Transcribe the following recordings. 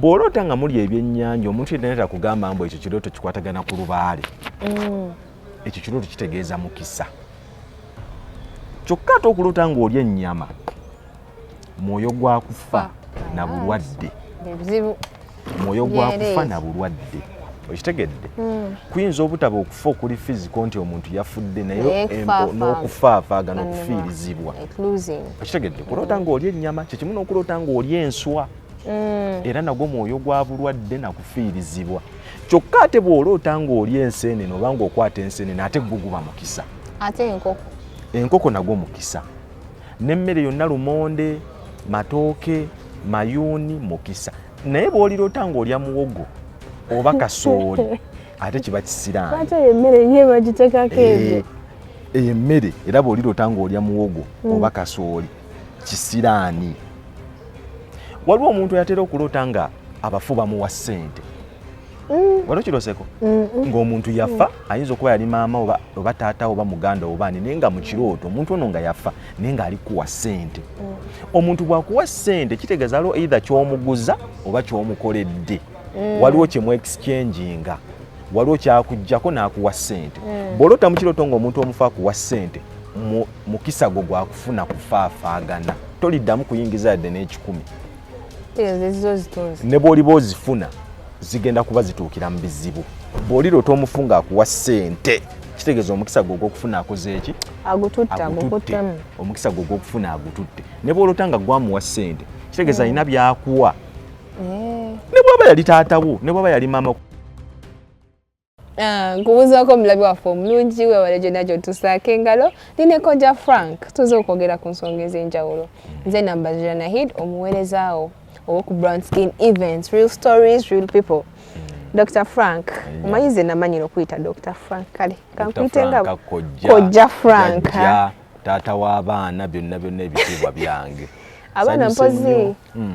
bw'oloota nga muli ebyennyanja omuntu yenna era kugamba mbu ekyo kirooto kikwatagana ku lubaale mm. ekyo kirooto kitegeeza mukisa kyokka ate okuloota ng'olya ennyama mwoyo gwa kufa na bulwadde mwoyo gwa kufa na bulwadde okitegedde hmm. kuyinza obutaba okufa okuli fiziko nti omuntu yafudde naye n'okufaafagana okufiirizibwa okitegedde kuloota ng'olya ennyama kyekimu n'okuloota ng'olya enswa mm. era nagwo mwoyo gwa bulwadde na kufiirizibwa kyokka ate bw'oloota ng'oli enseenene oba ng'okwata enseenene ate gwo guba mukisa ate enkoko enkoko nagwo mukisa n'emmere yonna lumonde matooke mayuuni mukisa naye bw'oliroota ng'olya muwogo oba kasooli ate kiba kisiraani eyo emmere era bw'oliroota ng'olya muwogo mm. oba kasooli kisiraani waliwo omuntu yatera okuloota nga abafu bamuwa ssente mm. wali okiroseko ng'omuntu yafa mm. ayinza okuba yali maama oba taata oba muganda obaani naye nga mu kirooto omuntu ono nga yafa naye ng'ali kuwa ssente mm. omuntu bwakuwa ssente kitegeeza aliwo eitha kyomuguza oba kyomukoledde waliwo kyemu exchanginga waliwo kyakujjako n'akuwa ssente bw'olota mu kirooto ng'omuntu omufa akuwa ssente mukisa gwo gwakufuna kufaafaagana toliddamu kuyingiza yadde n'ekikumi ne bw'oliba ozifuna zigenda kuba zituukira mu bizibu bw'olirota omufu ng'akuwa ssente kitegeeza omukisa gwe ogwokufuna akoze eki omukisa gwe ogwokufuna agututte ne bw'olota nga gwamuwa ssente kitegeeza alina hmm. byakuwa eh. ne bwaba yali taatawo ne bwaba yali maama Ah, nkubuuzaako omulabi waffe omulungi webale gyonna gyotusaako engalo nineko ja frank tuze okwogera ku nsonga ez'enjawulo nze namba zira nahid omuweerezaawo owoku brown skin events real stories real people dr frank omanyi ze namanyira okuyita dr frank kale kankuyite nga kojja frank taata w'abaana byonna byonna ebitiibwa byange abaana mpozi hmm.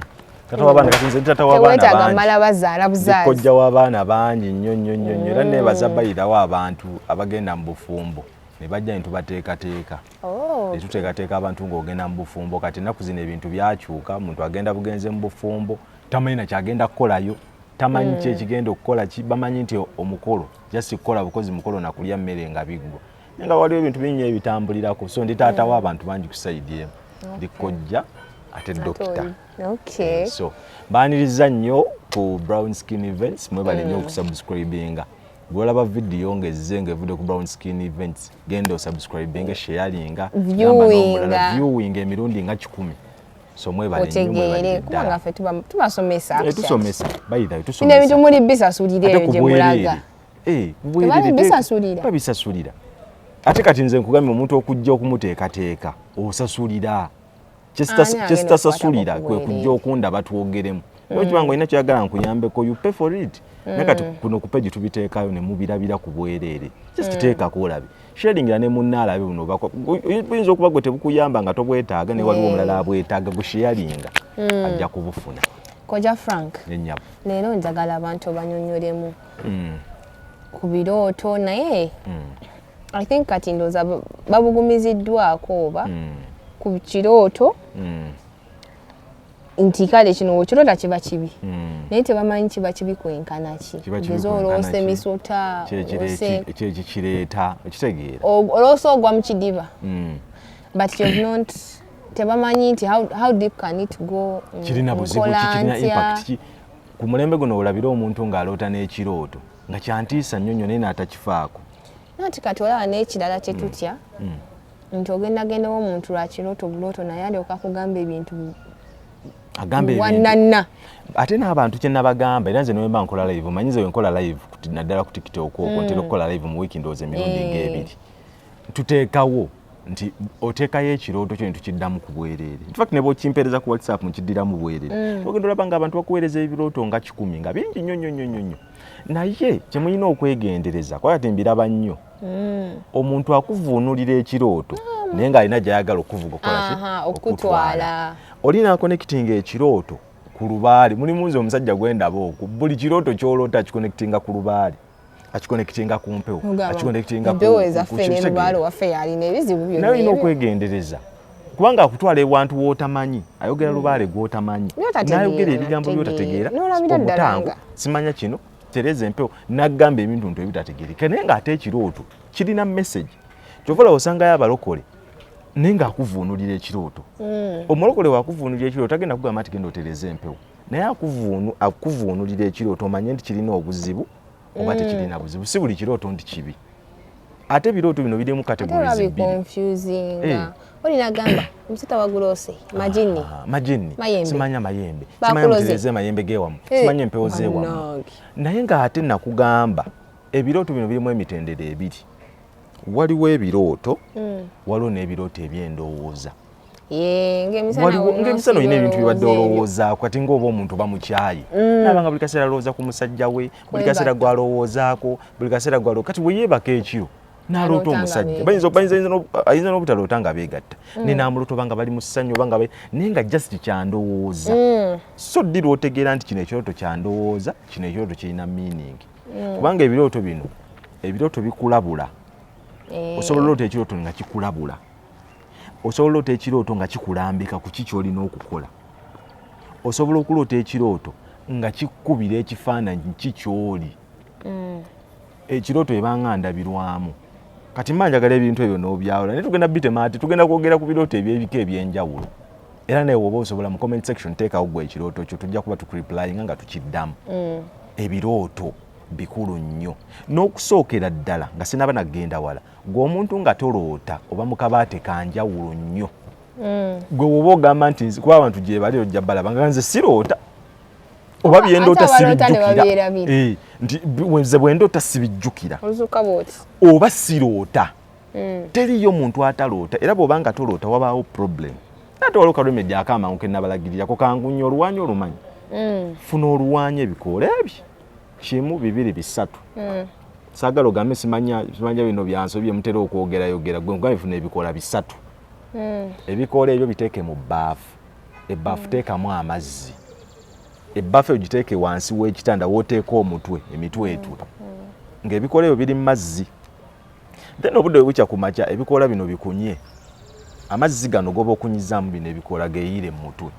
taata w'abaana kati nze taata w'abaana bazaala buzaala kojja w'abaana bangi nnyo nnyo nnyo nnyo era nebaza hmm. bayirawo abantu abagenda mu bufumbo ne bajja ne tubateekateeka oh. ne tuteekateeka abantu ng'ogenda mu bufumbo kati ennaku zino ebintu byakyuka omuntu agenda bugenze mu bufumbo tamanyi na kyagenda kukolayo tamanyi ki hmm. ekigenda okukola ki bamanyi nti omukolo jasi kukola bukozi mukolo nakulya mmere nga biggwa naye nga waliwo ebintu bingi ebitambulirako so ndi taata wa abantu bangi ku saidi emu ndi kojja ate dokita eh, so baniriza nnyo ku brown skin events mwebale nnyo mm. okusubscribinga bwolaba vidiyo ngezze ngaevudde ku brown skin events genda osubscribinga sharinga viewinga viewing emirundi nga kikumi somwebalekubanga fe tubasomesa eh, tusomesa baithawe tusomesa ebintu muli bisasulire gye mulaga Eh, babisasulira ate kati nze nkugambye omuntu okujja okumuteekateeka osasulira kyesitasasulira kwe kujja okunda batwogeremu okiba nga olina kyoyagala nkuyambeko you pay for it mm. naye kati kuno kupe gye tubiteekayo ne mubirabira ku bwereere just mm. teekako olabe sharingira ne munna alabe buno oyinza okuba gwe tebukuyamba nga tobwetaaga ne waliwo omulala abwetaaga gusheyaringa mm. ajja kubufuna koja frank leero njagala abantu banyonyolemu mm. ku birooto naye mm. i think kati ndooza babugumiziddwako oba mm. ku kirooto mm. nti kale kino wekirota kiba kibi hmm. naye tebamanyi kiba kibi kwenkana ki ogeza oloosa emisota kyekikireeta okitegeera oloosa ogwa mu kidiba hmm. but you've not tebamanyi nti how deep can it go hmm, kirina buzibu kirina impact ku mulembe guno olabira omuntu ng'aloota n'ekirooto nga kyantiisa nnyo nnyo naye n'atakifaako nati kati olaba n'ekirala kye tutya mm. mm. nti ogendagendawo omuntu lwa kirooto bulooto naye alyoka kugamba ebintu wananna ate n'abantu kye nabagamba era nze newemba nkola live omanyi nze wenkola live naddala ku tiktok okwo mm. ntera okukola live mu wiiki ndowooza emirundi eh. ng'ebiri tuteekawo nti oteekayo ekirooto kyo netukiddamu ku bwereere infact ne bwokimpeereza ku whatsapp nkiddiramu bwereere mm. ogenda olaba nga abantu bakuweereza ebirooto nga kikumi nga bingi nnyo nnyo nnyo nnyo naye kyemulina okwegendereza kuba kati mbiraba nnyo mm. omuntu akuvuunulira ekirooto ah. naye ng'alina gyayagala okuvuga okolaki okutwala olina akonekitinga ekirooto ku lubaale mulimu nze omusajja gwendaba oku buli kirooto kyoloota kikonekitinga ku lubaale akikonekitinga ku mpewo akikonekitinga mpewo ezaffe ne lubaale waffe yalina ebizibu byonna naye olina okwegendereza kubanga akutwala ewantu w'otamanyi ayogera mm. lubaale gw'otamanyi n'ayogera ebigambo by'otategeera obutango simanya kino tereza empewo n'agamba ebintu ntu ebitategeereka naye ng'ate ekirooto kirina message kyova olaba osangayo abalokole naye ng'akuvuunulira ekirooto mm. omulokole wakuvuunulira ekirooto tagenda kugamba nti genda otereza empewo naye akuvuunu akuvuunulira ekirooto omanye nti kirina obuzibu oba mm. tekirina buzibu si buli kirooto nti kibi ate ebirooto bino birimu kategorizibiolinagambaolinagambaolina naye ngaate nakugamba ebirooto bino birimu emitendero ebiri waliwo ebirooto mm. waliwo n'ebirooto ebyendowooza ngaemisana olina ebintu bibadde olowoozaako kati ngaoba omuntu bamukyaye mm. nabanga buli kaseera alowooza ku musajja we buli kaseera gwalowoozaako buli kaseera gwalo kati weyeebaka ekyo naloota omusajja ayinza n'obutaloota nga beegatta mm. naye namulota obanga bali mu ssanyu obanga naye nga just kyandowooza mm. so ddi lwotegeera nti kino ekirooto kyandowooza kino ekirooto kirina meaning kubanga ebirooto bino ebirooto bikulabula eh. osobola olota ekirooto nga kikulabula osobola oloota ekirooto nga kikulambika ku ki kyolina okukola osobola okuloota ekirooto nga kikubira ekifaananyi ki kyoli mm. ekirooto ebanga ndabirwamu kati mba njagala ebintu ebyo n'obyawula naye tugenda bitemaati tugenda kwogera ku birooto ebyebika ebyenjawulo era naye woba osobola mu comment section teekawo gwe ekirooto kyo tujja kuba tukuriplyinga nga tukiddamu mm. ebirooto bikulu nnyo n'okusookera ddala nga sinaba nagenda wala gwe omuntu nga toloota oba mukabaate kanjawulo nnyo mm. gwe woba ogamba nti kuba abantu gyebali ojja balaba nga nze siroota oba byendoota sibijjukira eh, nti nze bwendoota sibijjukira oba siroota mm. teriyo muntu ataloota era bwoba nga toloota wabaawo problem ate waliwo kalumedi akamangu kenabalagirirako kangunya oluwanyi olumanyi mm. funa oluwanyi ebikoola ebyo kimu bibiri bisatu mm. sagala ogambe simanya simanya bino byanso bye mutera okwogera yogera gwe ngambe funa ebikola bisatu mm. ebikola ebyo biteke mu bafu e bafu mm. teka mu amazzi e bafu ojiteke wansi we kitanda woteka omutwe emitwe mm. etu mm. nge ebikola ebyo biri mazzi then obudde webukya ku makya ebikoola bino bikunye amazzi gano goba okunyizaamu bino ebikoola geyiire mu mutwe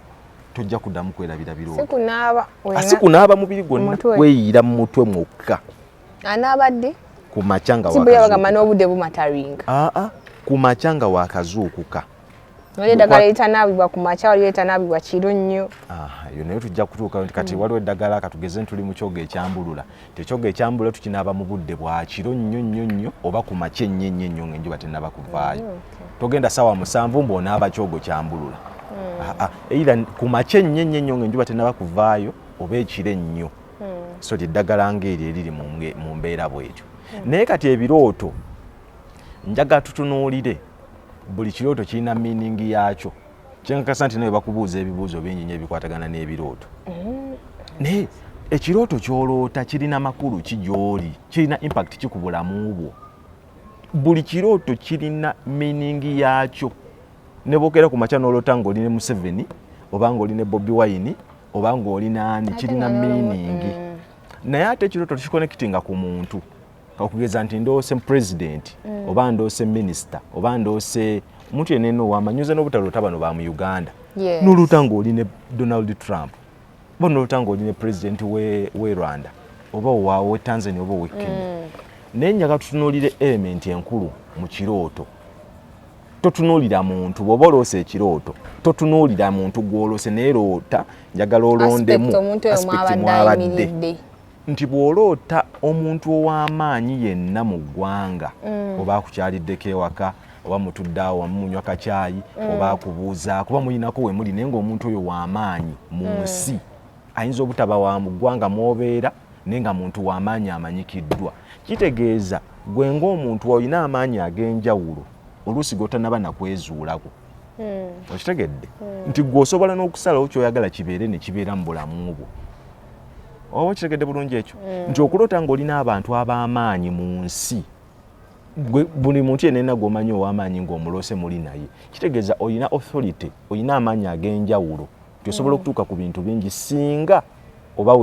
tojja kuddamu kwerabira birosikunaaba ah, mubiri gwonna kweyiira mu mutwe mwokka anaaba ddi ku makya nga wakazuukuka ah, ah, ku makya nga wakazuukuka waliwo eddagala eritanaabibwa ku makya waliwo eritanaabibwa kiro nnyo yo naye tujja kutuuka nti kati mm. waliwo eddagala katugeze ntuli mu kyoga ekyambulula tekyoga ekyambulula tukinaaba mu budde bwa kiro nnyo nnyo nnyo oba ku makya ennyo ennyo ennyo ngaenjuba tenaba kuvaayo mm, togenda sawa musanvu mbu onaaba kyogo kyambulula mm. ah, ah, eira ku makya ennyo ennyo ennyo ngaenjuba tenaba kuvaayo oba ekiro ennyo so lyeddagala ngaeri eriri mu mbeera bwetyo naye kati ebirooto njaga tutunuulire buli kirooto kirina meaning yaakyo kyenkakasa nti nawe bakubuuza ebibuuzo bingi nyo ebikwatagana n'ebirooto mm. naye ekirooto kyoloota kirina makulu ki gyoli kirina impact ki ku bulamu bwo buli kirooto kirina meaning yaakyo ne bwokeera ku makya n'oloota ng'oli ne museveni oba ng'oli ne bobi wayini oba ng'oli naani kirina meaning mm. naye ate ekirooto tekikonekitinga ku muntu okugeza nti ndoose president mm. oba ndoose minister oba ndoose omuntu yenna eno wamanyize n'obutaloota bano ba mu uganda yes. noluta ng'oli ne donald trump oba noluta ng'oli ne president we, we rwanda oba owawe tanzania oba owekenya mm. naye nyaga tutunuulire element enkulu mu kirooto totunuulira muntu bwoba oloosa ekirooto totunuulira muntu gwolose naye loota njagala olondemu aspekti mwabadde nti bw'oloota omuntu ow'amaanyi yenna mu ggwanga mm. oba akukyaliddeko ewaka oba mutudde awo wamu munywa kacaayi mm. oba akubuuza kuba mulinako we muli naye ng'omuntu oyo w'amaanyi mu mm. nsi ayinza obutaba wa mu ggwanga mw'obeera naye nga muntu w'amaanyi amanyikiddwa kitegeeza gwe ng'omuntu olina amaanyi ag'enjawulo oluusi g'otanaba nakwezuulako okitegedde nti gwe osobola n'okusalawo ky'oyagala kibeere ne kibeera mu bulamu bwo oba okitegedde bulungi ekyo mm. nti okuloota ng'olina abantu ab'amaanyi mu nsi buli muntu yenena gwomanyi ow'amaanyi ng'omuloose muli naye kitegeeza olina authority olina amaanyi ag'enjawulo nti osobola mm. okutuuka ku bintu bingi singa oba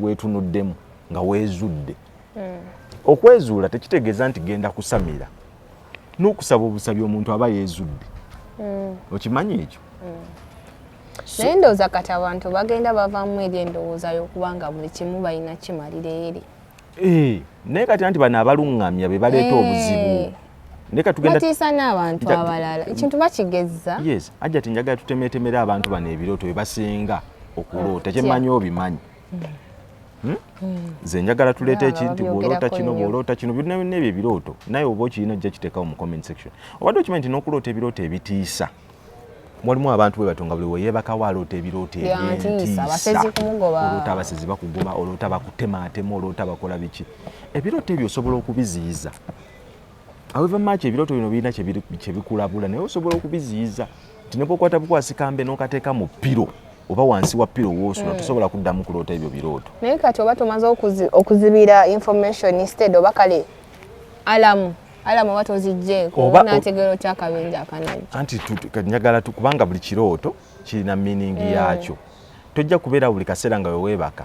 weetunuddemu nga weezudde mm. okwezuula tekitegeeza nti genda kusamira n'okusaba obusabi omuntu aba yeezudde mm. okimanyi ekyo mm. naye ndowooza kati abantu bagenda bavamu eri endowooza y'okubanga buli kimu balina kimalira eri eh, naye kati anti bano abaluŋŋamya be baleeta eh. obuzibu batiisa n'abantu abalala ekintu bakigezza yes ajja ti njagala tutemeetemera abantu bano ebirooto bye basinga okuloota kyemanyi obimanyi mm. Hmm? Hmm. nze njagala tuleeta ekinti bwoloota kino bwoloota kino byonna byonna ebyo ebirooto naye oba okirina ojja kiteekawo mu comment section obadde okimanyi nti n'okuloota ebirooto ebitiisa walimu abantu bwe batonga buli weyebakawo aloota ebirooto ebyentiisaoloota abasezi bakuguma oloota bakutemaatema oloota bakola biki ebirooto ebyo osobola okubiziyiza However much ebirooto bino birina kye bikulabula naye osobola okubiziyiza nti ne bwokwata bukwasi kambe n'okateeka mu piro oba wansi wa piro woosula hmm. tosobola kuddamu kuloota ebyo birooto. Naye kati oba tomaze okuzibira information instead oba kale alamu alamu oba tozijjeeko n'ategeera otya akabinja akanajja. Anti njagala kubanga buli kirooto kirina miiningi hmm. yaakyo. Tojja kubeera buli kaseera nga weweebaka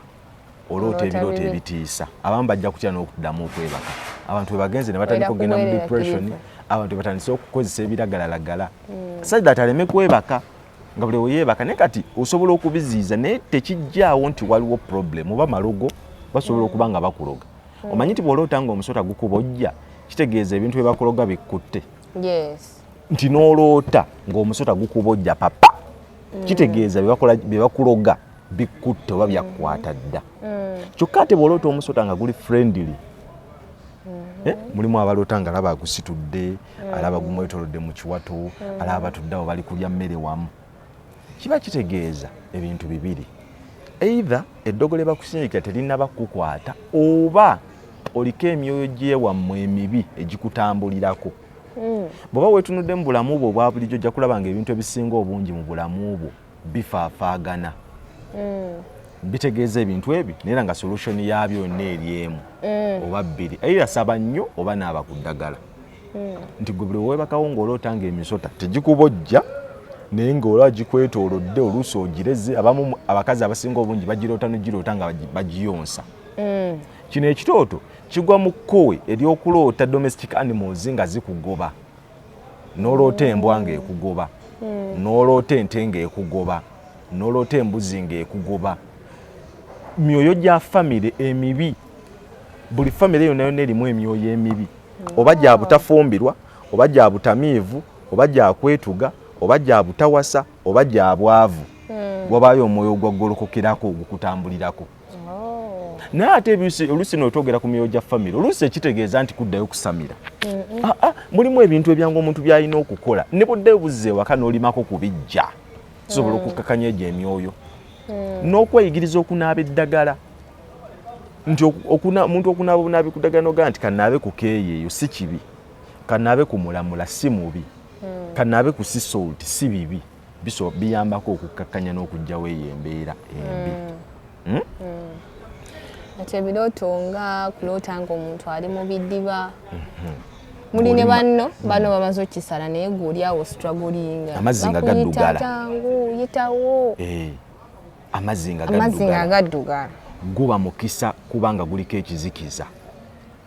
oloota ebirooto ebitiisa abamu bajja kutya n'okuddamu okwebaka abantu webagenze ne batandika okugenda mu depression abantu batandise okukozesa ebiragalalagala hmm. said that aleme kwebaka nga buli weyebaka naye kati osobola okubiziiza naye tekijjaawo nti waliwo problem oba malogo basobola okuba nga bakuloga hmm. omanyi nti bwoloota nga omusota gukubojja kitegeeza ebintu byebakuloga bikkutte nti noloota ngaomusota gukubojja papa hmm. kitegeeza byebakuloga bikkutte oba byakkwata dda mm. kyokka ate bwoloota omusota nga guli friendly mm-hmm. eh, mulimu abaloota nga alaba agusitudde mm. alaba gumwetolodde mu kiwato mm. alaba batudde awo bali kulya mmere wamu kiba kitegeeza ebintu bibiri eitha eddogo lye bakusindikira terinaba kukukwata oba oliko emyoyo gyewammwe emibi egikutambulirako mm. bw'oba weetunuddemu bulamu bwo obwa bulijjo ojja kulaba nga ebintu ebisinga obungi mu bulamu bwo bifaafaagana mm. bitegeeza ebintu ebyo naye nga solution yaabyo yonna eri emu mm. oba bbiri era saba nnyo oba naaba ku ddagala mm. nti gwe buli wewebakawo ng'oloota nga emisota tegikubojja naye ng'olaba gikwetoolodde oluusi ogireze abamu abakazi abasinga obungi bagiroota nogiroota nga bagiyonsa mm. kino ekitooto kigwa mu kkowe ery'okuloota domestic animals nga zikugoba noloota embwa nga ekugoba hmm. noloota ente nga ekugoba noloota embuzi nga ekugoba myoyo gya famire emibi buli famire yona yona erimu emyoyo emibi hmm. oba gya butafumbirwa oba gya butamiivu oba gya kwetuga oba gya butawasa oba gya bwavu hmm. wabayo omwoyo ogwagolokokerako ogukutambulirako oh. naye ate oluusi notwogera ku myoyo gya famire oluusi ekitegeeza nti kuddayo kusamira ah, ah, mulimu ebintu ebyangu omuntu byalina okukola ne budde buzza ewaka n'olimako kubijja tusobola mm. okukakanya egyo emyoyo mm. n'okweyigiriza okunaaba eddagala nti omuntu okunaaba obunaabi ku ddagala nogaa nti kanaabe ku keeyi eyo si kibi kanaabe ku mulamula si mubi mm. kanaabe ku sisolti si bibi mm. biso biyambako okukkakkanya n'okuggyawo eyo embeera embi mm. Hmm? Mm. ati ebirooto nga kuloota nga omuntu ali mu bidiba mhm. muli ne banno mm. bano bamaze okukisala naye gwe oli awo stragolinga amazzi nga gaddugala yitawo eh. amazzi nga gaddugala guba mukisa kubanga guliko ekizikiza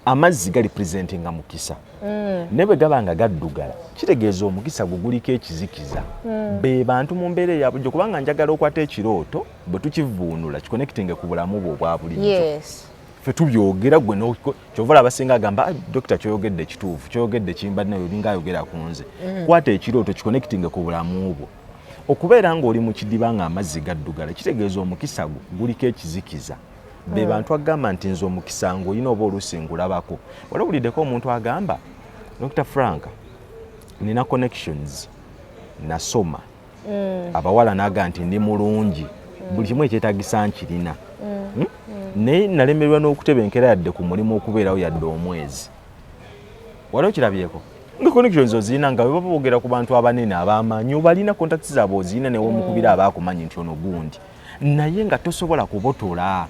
amazzi gali presenti nga mukisa mm. ne bwe gaba nga gaddugala kitegeeza omukisa gwe guliko ekizikiza mm. be bantu mu mbeera eya bulijjo kubanga njagala okwata ekirooto bwe tukivuunula kikonekitinge ku bulamu bwe obwa bulijjo yes. fe tubyogera gwe kyovala abasinga agamba dokita kyoyogedde kituufu kyoyogedde kimbadde nayo olinga ayogera ku nze mm. kwata ekirooto kikonekitinge ku bulamu bwo okubeera ng'oli mu kidiba ng'amazzi gaddugala kitegeeza omukisa gwo guliko ekizikiza be hmm. bantu agamba nti nze omukisa ng'olina oba oluusi ngulabako wali owuliddeko omuntu agamba dr frank nina connections nasoma hmm. abawala naga nti ndi mulungi hmm. buli kimu ekyetagisa nkirina hmm? naye nalemererwa n'okutebenkera yadde ku mulimu okubeerawo yadde omwezi wali okirabyeko nga connections ozirina nga webaba bogera ku bantu abanene abamanyi obalina contacts zaabwe ozirina newomukubira abaakumanyi nti ono gundi naye nga tosobola kubotola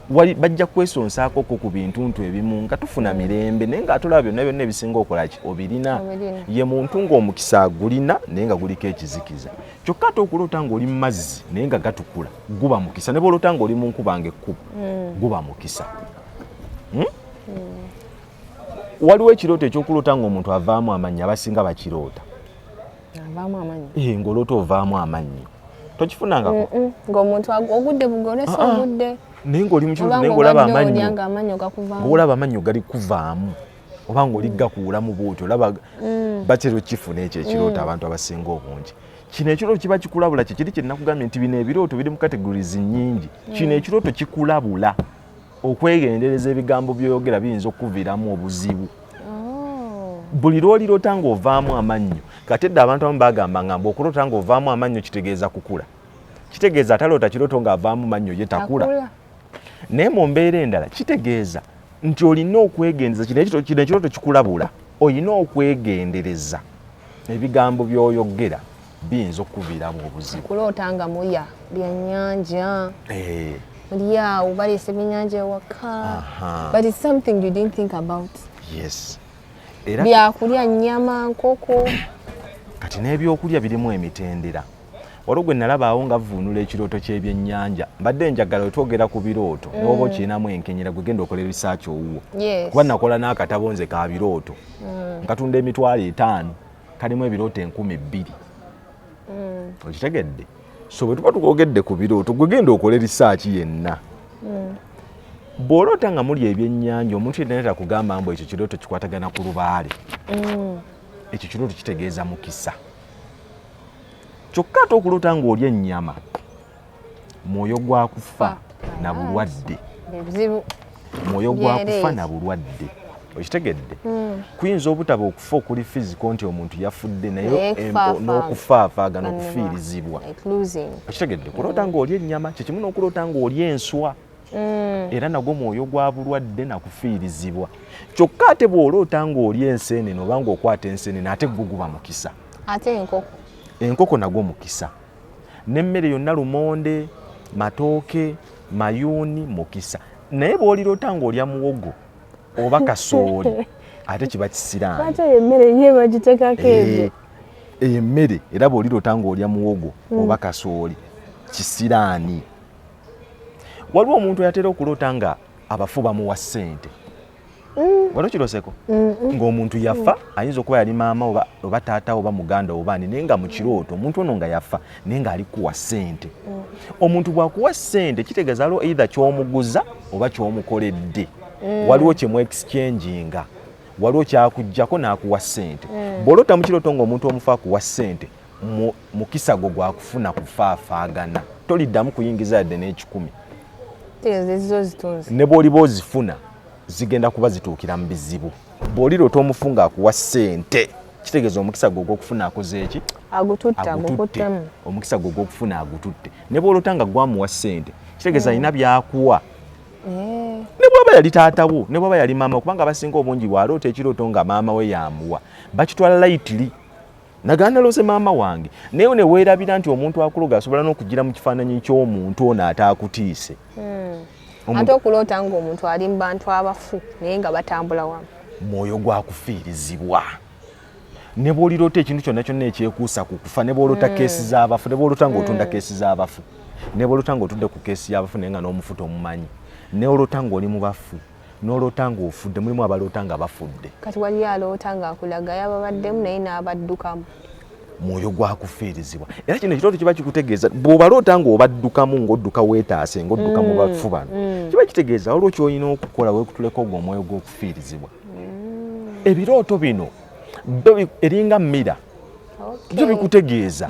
bajja kwesonsaako ko ku bintuntu ebimu nga tufuna mirembe naye nga atolaba byonna byonna ebisinga okolaki obirina ye muntu ng'omukisa agulina naye nga guliko ekizikiza kyokka ate okuloota ng'oli mu mazzi naye nga gatukula guba mukisa ne bwoloota ng'oli mu nkuba nga ekkubo mm. guba mukisa hmm? mm. waliwo ekirooto ekyokuloota ng'omuntu avaamu amannya abasinga bakiroota avaamu amannyo eh, ng'oloota ovaamu amannyo tokifunangako ng'omuntu ogudde bugolesa ah, ah. ogudde naye ng'oli mukiolaba amannyoolaba amannyo gali kuvaamu oba ng'oli mm. gakuulamu bwoti olaba mm. batera okifuna ekyo ekirooto mm. abantu abasinga obungi kino ekirooto kiba kikulabula kyekiri kyenakugambye nti bino ebirooto biri mu categories nyingi kino ekirooto kikulabula okwegendereza ebigambo byoyogera biyinza okukuviramu obuzibu oh. buli lwolirota ngaovaamu amannyo kati dda abantu abamu bagamba nga mbu okulota ngaovaamu amannyo kitegeeza kukula kitegeeza ataloota kiroto ngaavaamu mannyo ye takula naye mu mbeera endala kitegeeza nti olina okwegendereza kino ekiroto kikulabula olina okwegendereza ebigambo byoyogera biyinza okukuviiramu obuzibu okuloota nga mulya byannyanja eh. muli awo baleese ebyennyanja ewaka but it's something you didn't think about yes byakulya nnyama nkoko kati n'ebyokulya birimu emitendera waliwo gwe nalabaawo nga vuunula ekirooto ky'ebyennyanja mbadde njagala wetwogera ku birooto mm. newoba okirinamu enkenyera gwe genda okola ebisaaki owuwo kuba nakola n'akatabo nze ka birooto mm. nkatunda emitwalo etaano kalimu ebirooto enkumi bbiri mm. okitegedde so bwe tuba tukogedde ku birooto gwe genda okole risaaki yenna mm. bw'oloota nga muli ebyennyanja omuntu yenna era kugamba mbu ekyo kirooto kikwatagana ku lubaale mm. ekyo kirooto kitegeeza mukisa kyokka ate okuloota ng'olya ennyama mwoyo gwa kufa na bulwadde mwoyo gwa kufa na bulwadde okitegedde hmm. kuyinza obutaba okufa okuli fiziko nti omuntu yafudde naye n'okufaafagana okufiirizibwa okitegedde kuloota hmm. ng'oli ennyama kyekimu n'okuloota ng'oli enswa hmm. era nagwo mwoyo gwa bulwadde nakufiirizibwa kyokka ate bw'oloota ng'oli enseenene oba ng'okwata enseenene ate guguba mukisa ate enkoko enkoko nagwo mukisa nemmere yonna lumonde matooke mayuuni mukisa naye bwolirota ngaolya muwogo oba kasooli ate kiba kisiraaniemmere eh, eyo emmere era bwolirota ngaolya muwogo hmm. oba kasooli kisiraani waliwo omuntu yatera okuloota nga abafu bamuwa ssente Mm. wali okiroseko ng'omuntu yafa mm. ayinza okuba yali maama oba taata oba muganda obaani naye nga mukirooto mm. omuntu ono nga yafa naye ng'ali kuwa ssente omuntu bwakuwa ssente kitegeeza aliwo eitha kyomuguza oba kyomukoledde waliwo kyemu exchanginga waliwo kyakujjako n'akuwa ssente bw'olota mukirooto ng'omuntu omufa akuwa ssente mukisa gwo gwakufuna kufaafaagana toliddamu kuyingiza yadde n'ekikumi ne bw'oliba ozifuna zigenda kuba zituukira mu bizibu bw'olirota omufu ng'akuwa ssente kitegeeza omukisa gwe ogwokufuna akoze eki agututte omukisa gwe ogwokufuna agututte ne bw'olota nga gwamuwa ssente kitegeeza alina hmm. byakuwa eh. ne bwaba yali taatawo ne bwaba yali maama kubanga abasinga obungi bwaloota ekirooto nga maama we yamuwa bakitwala layitiri Nagana naloose maama wange naye neweerabira nti omuntu akuloga asobola n'okugira mu kifaananyi ky'omuntu ono ataakutiise hmm. ate okuloota ng'omuntu ali mu bantu abafu naye nga batambula wamu mwoyo gwakufiirizibwa ne bw'oliroota ekintu kyonna kyonna ekyekuusa ku kufa ne bw'oloota hmm. keesi z'abafu ne bw'oloota ng'otunda hmm. keesi z'abafu ne bw'oloota ng'otudde ku keesi y'abafu naye nga n'omufuta omumanyi ne olota ng'oli mu bafu n'oloota ng'ofudde mulimu abaloota nga bafudde kati waliyo aloota ng'akulaga yababaddemu naye n'abaddukamu mwoyo gwakufiirizibwa era kino ekitooto kiba kikutegeeza bw'obaloota ng'obaddukamu ng'odduka weetaase ng'odduka mu mm, bafu bano mm. kiba kitegeeza waliwo kyolina okukola wekutuleko ogwo omwoyo gw'okufiirizibwa mm. ebirooto bino byo eringa mira byo bikutegeeza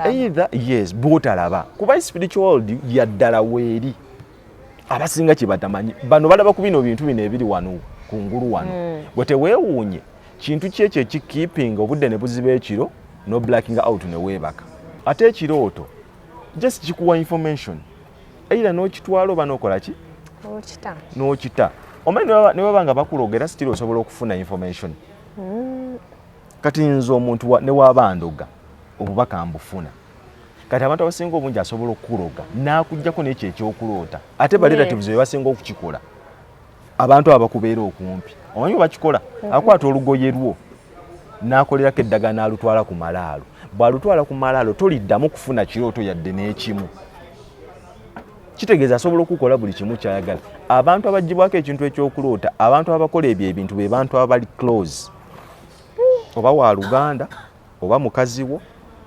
eitha yes bwotalaba kuba spiritual world yaddala weeri abasinga kyebatamanyi bano balaba ku bino bintu bino ebiri wano kungulu wano mm. gwe teweewuunye kintu ki ekyo ekikiipinga obudde ne buziba ekiro no blacking out ne weebaka ate ekirooto just kikuwa information either n'okitwala oba n'okola ki n'okita omanyi ne baba nga bakuloga era sitiri osobola okufuna information mm. kati nze omuntu ne waba ndoga obubaka mbufuna kati abantu abasinga obungi asobola okukuloga n'akugyako n'ekyo ekyokuloota ate barelatives be basinga okukikola abantu abakubeera okumpi omanyi bakikola mhm. akwata olugoye lwo n'akolerako eddagala n'alutwala ku malaalo bw'alutwala ku malaalo toliddamu kufuna kirooto yadde n'ekimu kitegeeza asobola okukola buli kimu kyayagala abantu abagibwako ekintu ekyokuloota abantu abakola ebyo ebintu be bantu abali close oba wa luganda oba mukazi wo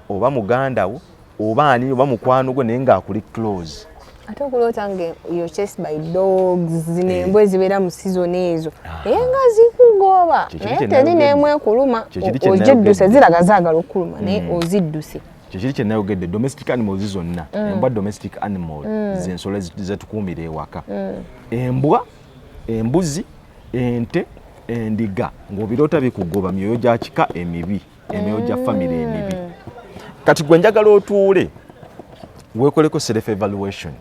oba muganda wo oba ani oba mukwano gwo naye ng'akuli close ate okuloota nga yo chase by dogs zino eh. embwa ezibeera mu sizoni ezo ah. naye nga zikugoba naye teri neemu ekuluma ogidduse ziraga zaagala okukuluma naye hmm. ozidduse kyekiri kyenayogedde domestic animals zonna hmm. embwa domestic animal hmm. zensolo zetukuumira ewaka embwa embuzi ente endiga ng'obiroota bikugoba myoyo gya kika emibi emyoyo gya famire emibi mm. kati gwe njagala otuule weekoleko self evaluation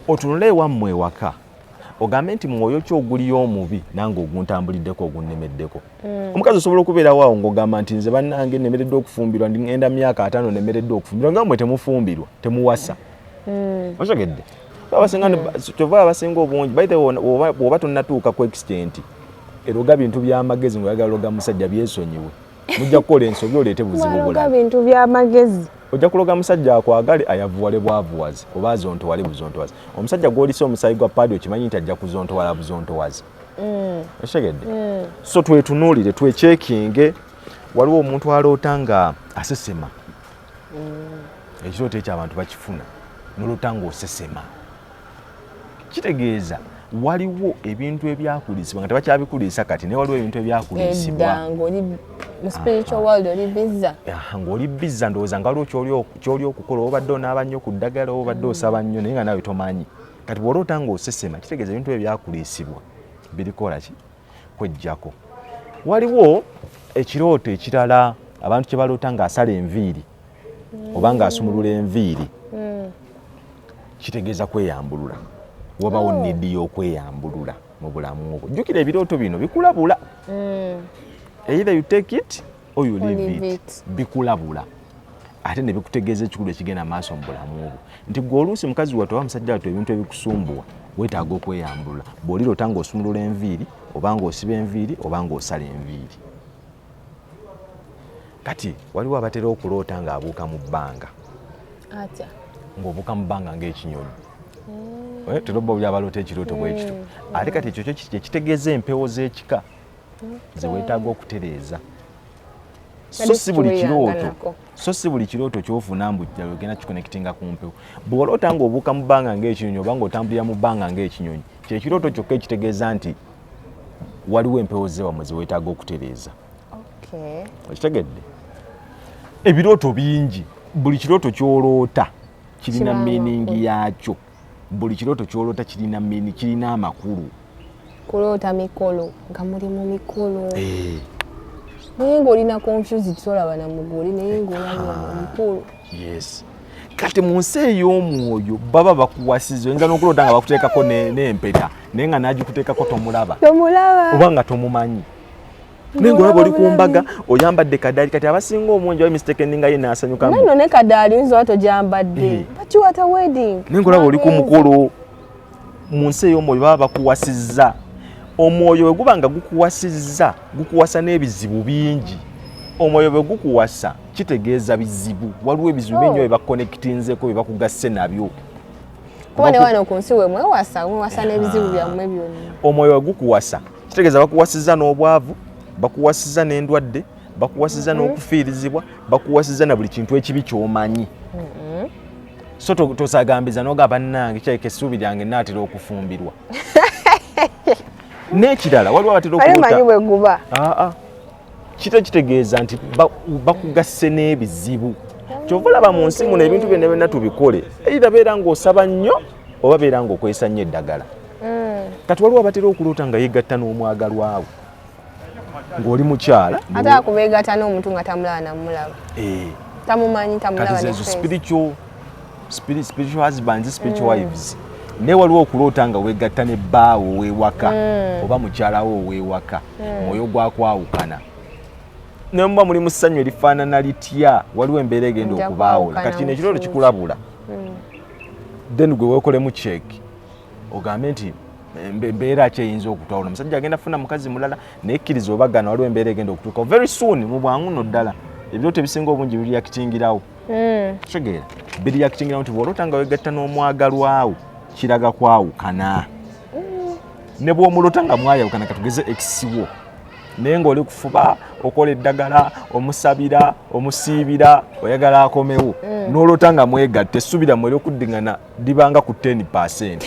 otunule ewammwe ewaka ogambe nti mwoyo ki oguliyo omubi nange oguntambuliddeko ogunnemeddeko mm. omukazi osobola okubeerawo awo ng'ogamba nti nze bannange nemereddwa okufumbirwa ngenda myaka ataano nemereddwa okufumbirwa nga mwe temufumbirwa temuwasa mm. otegedde mm. kyova abasinga obungi baite woba tonatuuka ku extent eroga bintu byamagezi ngaoyagala loga musajja byesonyiwe mujja kukola ensobi oleete buzibu bula bintu byamagezi ojja kuloga musajja akwagale ayavuwale bwavuwazi oba azontowale buzontowazi omusajja gwolisa omusayi gwa paadi okimanyi nti ajja kuzontowala buzontowazi mm. okitegedde mm. so twetunuulire twekyekinge waliwo omuntu aloota nga asesema mm. ekirooto ekyo abantu bakifuna nolota ng'osesema kitegeeza waliwo ebintu ebyakulisibwa nga tebakyabikulisa kati naye waliwo ebintu ebyakulisibwa ng'oli bizza ndowooza nga waliwo kyoli okukola obadde onaaba nnyo ku ddagala obadde osaba nnyo naye nga nawe tomanyi kati bw'oloota ng'osesema kitegeeza ebintu ebyo byakulisibwa birikola ki kwejjako waliwo ekirooto ekirala abantu kye baloota ng'asala enviiri mm. oba ng'asumulula enviiri mm. kitegeeza kweyambulula wabawo oh. nidi y'okweyambulula mu bulamu obwo jjukira ebirooto bino bikulabula mm. either you take it or you leave it bikulabula ate ne bikutegeeza ekikulu ekigenda maaso mu bulamu obwo nti gwe oluusi mukazi wattu oba musajja wattu ebintu ebikusumbuwa weetaaga okweyambulula bw'olira ota ng'osumulula enviiri oba ng'osiba enviiri oba ng'osala enviiri kati waliwo abatera okuloota ng'abuuka mu bbanga atya ng'obuuka mu bbanga ng'ekinyonyi Eh, tolobba oli abaloota ekirooto bwekito eh, ate kati ekyo kyo kyekitegeeza empewo z'ekika zewetaaga okutereeza so si buli kirooto so si buli kirooto kyofuna mbu ogenda kikonekitinga ku mpewo bw'oloota ng'obuuka mu bbanga ng'ekinyonyi oba ng'otambulira mu bbanga ng'ekinyonyi kyekirooto kyokka ekitegeeza nti waliwo empewo zewamwe zewetaaga okutereeza okitegedde ebirooto bingi buli kirooto kyoloota kirina miiningi yaakyo buli kirooto kyolota kirina mini kirina amakulu kuloota mikolo nga muli mu mikolo eh. naye ngaolina confused tolaba na muguli naye ngaolamukulu ah, yes kati mu nsi ey'omwoyo baba bakuwasiza oyinza n'okuloota nga bakuteekako n'empeta naye nga n'agikuteekako tomulaba oba nga tomumanyi naye ngaolaba oli ku mbaga oyambadde kadaali kati abasinga omungi oba mistekeninga ye naasanyukamuno ne kadaali oyinza oba togyambadde eh. bakiwata wedding naye ngaolaba oli ku mukolo mu nsi ey'omwoyo baba bakuwasizza omwoyo bwe guba nga gukuwasizza gukuwasa n'ebizibu bingi omwoyo bwe gukuwasa kitegeeza bizibu waliwo ebizibu bingi oh. bye bakonekitinzeko bye bakugasse nabyo kuba ne wano ku nsi we mwewasa mwewasa n'ebizibu byammwe byonna omwoyo bwe gukuwasa kitegeeza bakuwasiza n'obwavu bakuwasiza n'endwadde bakuwasiza mm-hmm. n'okufiirizibwa bakuwasiza na buli kintu ekibi kyomanyi mm-hmm. so tosagambiza noga bannange kyayika essuubi lyange naatera okufumbirwa n'ekirala waliwo abatera okumanyi bwe guba ah, ah. kita kitegeeza nti bakugasse n'ebizibu kyova olaba mu nsi muno ebintu byonna byonna tubikole eitha beera ng'osaba nnyo oba beera ng'okozesa nnyo eddagala hmm. kati waliwo abatera okuloota nga yegatta n'omwagalwawo ng'oli mukyala ate akubeegatta n'omuntu nga tamulaba namulaba eh. tamumanyi tamulaba spiritual spiritual husbands spiritual mm. wives naye waliwo okuloota nga wegatta ne bbaawo owewaka mm. oba mukyalawo owewaka mm. mwoyo gwakwawukana naye muba muli mu ssanyu erifaanana litya waliwo embeera egenda okubaawula kati kino ekirooto kikulabula then gwe wekolemu check ogambe nti mbeera ki eyinza okutwala omusajja agenda funa mukazi mulala naye kkiriza obagana waliwo embeera egenda okutuukawo very soon mu bwangu no ddala ebirooto ebisinga obungi biriyakitingirawo mm. kitegeera biriyakitingira nti bwolota nga wegatta n'omwagalwawo kiraga kwawukana mm. ne bwomulota nga mwayawukana katugeze ekisiwo naye ngaoli kufuba okola eddagala omusabira omusiibira oyagala akomewo mm. nolota nga mwegatta essuubira mwe eryokuddiŋana libanga ku 10 percent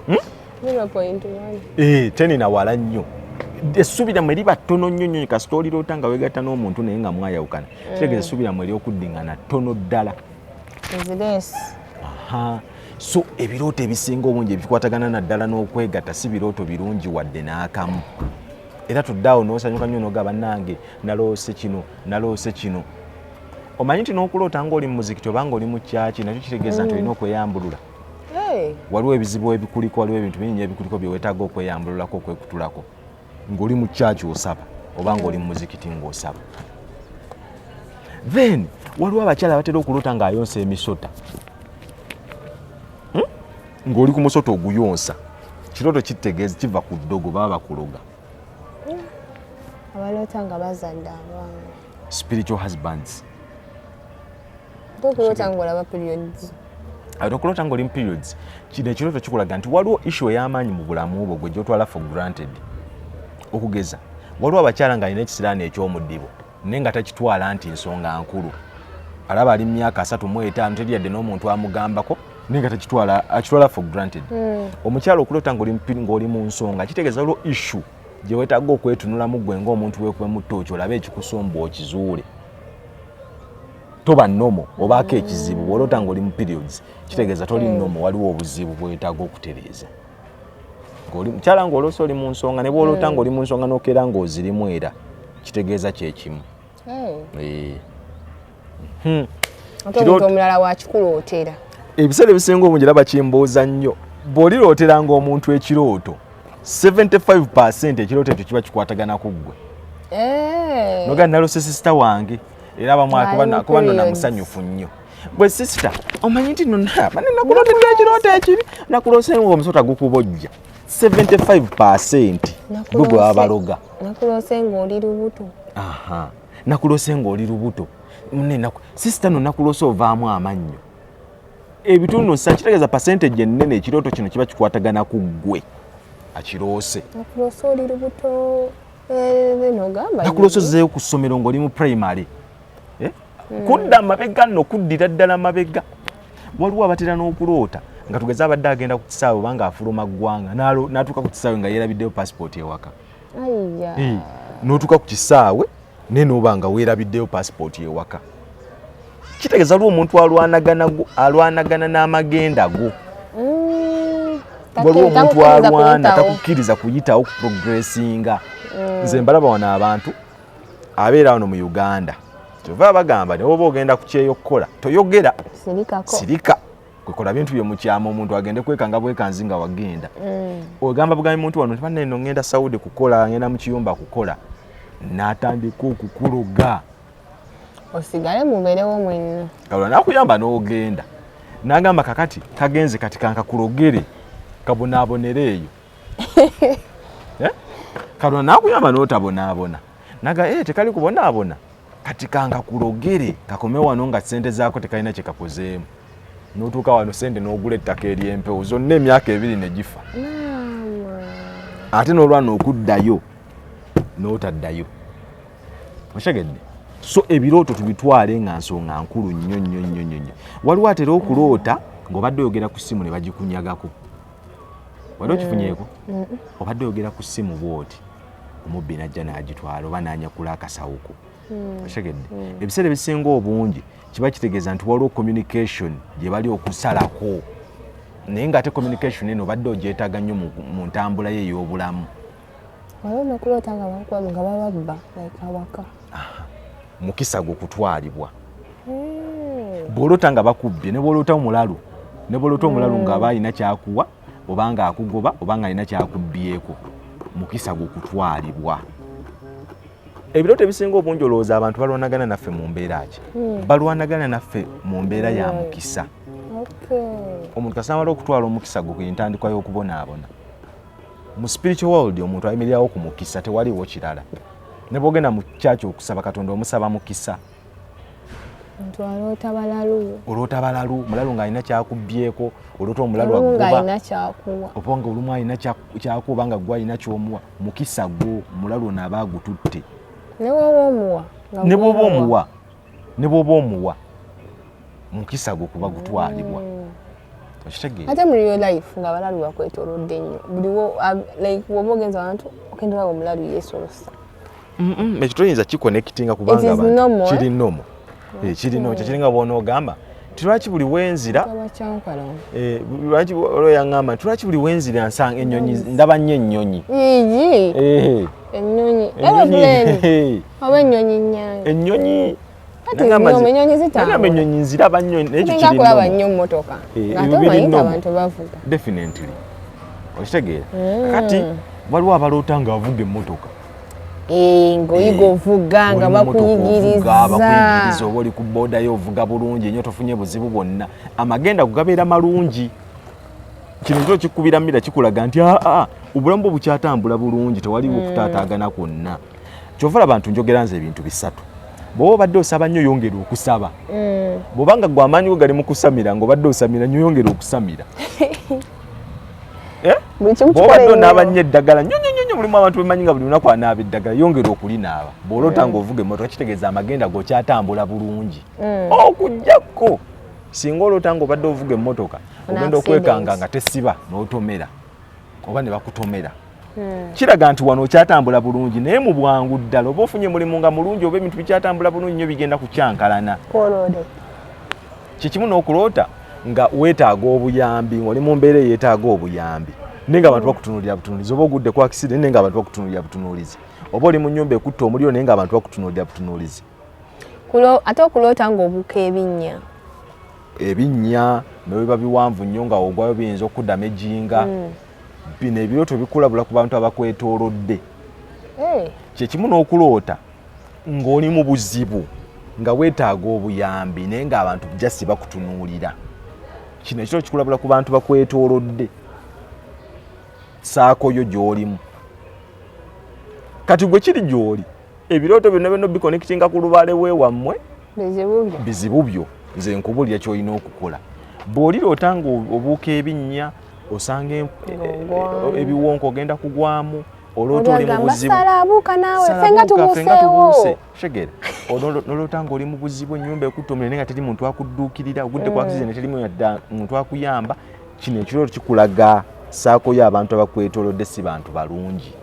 hmm? Eh, tenina wala nnyo essuubi lyammwe liba ttono nnyo nnyo kasita oliroota nga wegatta n'omuntu naye nga mwayawukana mm. kitegeeza essuubi lyammwe ery'okuddingana ttono ddala so ebirooto ebisinga obungi ebikwatagana naddala n'okwegatta si birooto birungi wadde n'akamu era tuddaawo n'osanyuka nnyo noga bannange naloose kino naloose kino omanyi nti n'okuloota ng'oli mu muzikiti oba ng'oli mu kyaki nakyo kitegeeza nti mm. olina okweyambulula waliwo ebizibu ebikuliko waliwo ebintu bingi ebikuliko byewetaaga okweyambululako okwekutulako ng'oli mu kyaki osaba oba ng'oli mu muzikiti ng'osaba then waliwo abakyala batera okulota ng'ayonsa emisota hmm? ng'oli ku musota oguyonsa kirooto kitegeeza kiva ku ddogo baba bakuloga hmm. abaloota nga bazadde abaana spiritual husbands tokulota ngolaba periods ate okulota ngoli mu periods kino ekirooto kikulaga nti waliwo issue ey'amaanyi mu bulamu bwo gwe gyotwala for granted okugeza waliwo abakyala ng'alina ekisiraani eky'omudibo naye nga takitwala nti nsonga nkulu alaba ali mu myaka asatu mu etaano teri yadde n'omuntu amugambako naye nga takitwala akitwala for granted hmm. omukyala okulota ng'oli mu nsonga kitegeeza waliwo issue gye weetaaga okwetunulamu gwe ng'omuntu wekubemuttooki olabe ekikusumbwa okizuule toba nomo obaako ekizibu bwolota ngaoli mu periods kitegeeza toli mm. nomo waliwo obuzibu bwetaaga okutereeza mukyala nga oloosa oli mu nsonga ne bwolota mm. nga oli mu nsonga nokeera nga ozirimu era kitegeeza kyekimu oh. eh. hmm. omulala wakikulootera ebiseera ebisinga obungi era bakimbuuza nnyo bw'olirootera ng'omuntu ekirooto 75% ekirooto ekyo kiba kikwatagana ku ggwe eh. noga nalose sisita wange era abamukuba nona musanyufu nnyo bwe sisita omanyi nti nonabane nakulotedde ekirooto ekibi nakulose nga omusota gukubojja 75% gwe gwe wabaloga nakulose ngaoli lubuto nakulose ngaoli lubuto sisita no nakulose ovaamu amannyo ebitundu nsa kitegeeza percentage ennene ekirooto kino kiba kikwatagana ku ggwe akiroose nakuloose ozeeyo ku ssomero ng'oli mu primary eh? hmm. kudda mabega nno kuddira ddala mabega waliwo abatera n'okuloota nga tugeze abadde agenda ku kisaawe obanga afuluma ggwanga n'atuuka ku kisaawe nga yeerabiddeyo passport ewaka n'otuuka ku kisaawe naye nooba nga weerabiddeyo paasipooti ewaka kitegeeza lwo omuntu alwanagana n'amagenda go mm, waliwo omuntu alwana takukkiriza kuyitawo ku progressinga mm. nze mbalaba wano abantu abeera wano mu uganda kyova bagamba newoba ogenda ku kyeyo okukola toyogera sirika kwekola bintu byo mukyama omuntu agende kwekanga bwekanzi nga wagenda mm. ogamba bugambi muntu wano tibanne no ngenda saudi kukola ngenda mukiyumba kukola natandika okukuloga osigale muberewo mwenna kalola nakuyamba nogenda nagamba kakati kagenze kati kankakulogere kabonaabonere eyo eh? kalola nakuyamba notabonaabona naga ee eh, tekali kubonaabona kati kangakulogere kakome wano nga sente zaako tekalina kyekakozeemu notuuka wano sente nogula ettaka eryempewo zonna emyaka ebiri negifa ate nolwana okuddayo notaddayo okitegedde so ebirooto tubitwale nga nsonga nkulu nnyo nnyo nnyo nnyo nnyo waliwo atera okuloota ngaobadde oyogera ku ssimu ne bagikunyagako wali okifunyeeko mm. obadde oyogera ku ssimu bwoti omubbi najja n'agitwala oba n'anyakula akasawo ko hmm. okitegedde hmm. ebiseera ebisinga obungi kiba kitegeeza nti waliwo communication gye bali okusalako naye ng'ate communication eno obadde ogyetaaga nnyo mu ntambula ye ey'obulamu mukisa gwe okutwalibwa hmm. bw'oloota nga bakubbye ne bw'oloota omulalu ne bw'oloota omulalu nga aba alina kyakuwa oba nga akugoba oba nga alina kyakubbyeko mukisa gwokutwalibwa ebirooto ebisinga obungi olowooza abantu balwanagana naffe mu mbeera ki hmm. balwanagana naffe mu mbeera ya hmm. mukisa omuntu kasamala okutwala omukisa gwe kwentandikwa y'okubonaabona mu spiritual world omuntu ayimirirawo ku mukisa tewaliwo kirala ne bwogenda mu kyaki okusaba katonda omusaba mukisa nti aloota balalu oloota balalu mulalu ng'alina kyakubbyeko oloota omulalu aggobalina kyakuwa oba nga olumu alina kyakuwa oba nga gwe alina kyomuwa mukisa gwo omulalu ono aba agututte ne bwoba omuwa ne bwoba omuwa ne bwoba omuwa mukisa gwo kuba gutwalibwa mm. okitegeera ate muri your life nga abalalu bakwetolodde nnyo buliwo like woba ogenza abantu okendola omulalu yeesolosa ekyo toyinza kikonekitinga kubanga kiri nomo eh, kiri no kyekiringa bwonaogamba nti lwaki buli wenzira eh, lwaki olwo yaŋamba nti lwaki buli wenzira nsanga ennyonyi ndaba nnyo ennyonyi eh. ennyonyi ennyonyi nagamba enyonyi nziraba nyo nayekulaba nyo motoka eh, ate omanyi abantu bavuga definitely okitegeera hmm. kati waliwo abaloota nga avuga emotoka eh, ngaoyiga eh, ovuga nga bakuyigirizabakuyigirizza oba oli ku bodayo ovuga bulungi enyo tofunye buzibu bwonna amagenda kugabeera malungi kino kyo kikubira mira kikulaga nti aa ah, ah, ah, obulamu bwo bukyatambula bulungi tewaliwo okutaataagana hmm. kwonna kyova olaba ntu njogera nze ebintu bisatu bwoba obadde osaba nnyo yongera okusaba mm. bwobanga gwe amaanyi go gali mu kusamira nga obadde osamira nnyo yongera okusamira eh? bwobadde onaaba nnyo eddagala nyo nyo nyo mulimu abantu bemanyi nga buli lunaku anaaba eddagala yongera okulinaaba bwolota mm. nga ovuga emotoka kitegeeza amagenda gokyatambula bulungi mm. okujjako oh, singa olota nga obadde ovuga emotoka ogenda okwekanga nga tesiba n'otomera oba ne bakutomera hmm. kiraga nti wano okyatambula bulungi naye mu bwangu ddala oba ofunye mulimu nga mulungi oba ebintu bikyatambula bulungi nyo bigenda kukyankalana kyekimu n'okuloota nga weetaaga obuyambi ngaoli mu mbeera eyeetaaga obuyambi naye nga abantu bakutunuulira butunuulizi oba ogudde ku akiside naye nga abantu bakutunuulira butunuulizi oba oli mu nyumba ekutta omuliro naye nga abantu bakutunuulira butunuulizi ate okuloota ngaobuka ebinnya ebinnya nebiba biwanvu nnyo nga ogwayo biyinza okudama ejinga mm. bino ebirooto bikulabula ku bantu abakwetoolodde eh. kyekimu n'okuloota ng'oli mu buzibu nga weetaaga obuyambi naye ng'abantu jasi bakutunuulira kino ekiro kikulabula ku bantu bakwetoolodde saakoyo gy'olimu kati gwe kiri gy'oli ebirooto byonna byonna bikonekitinga ku lubaale we wammwe bizibu byo nze nkubulira ky'olina okukola bw'oliroota ng'obuuka ebinnya osanga e, e, ebiwonko ogenda kugwamu olota oli mubuzibushegere nolota nga oli mubuzibu enyumba ekutomere naye nga teri muntu akudduukirira ogudde kwakize mm. neterimu yadda muntu akuyamba kino ekirooto kikulaga saakoyo abantu abakwetolodde si bantu balungi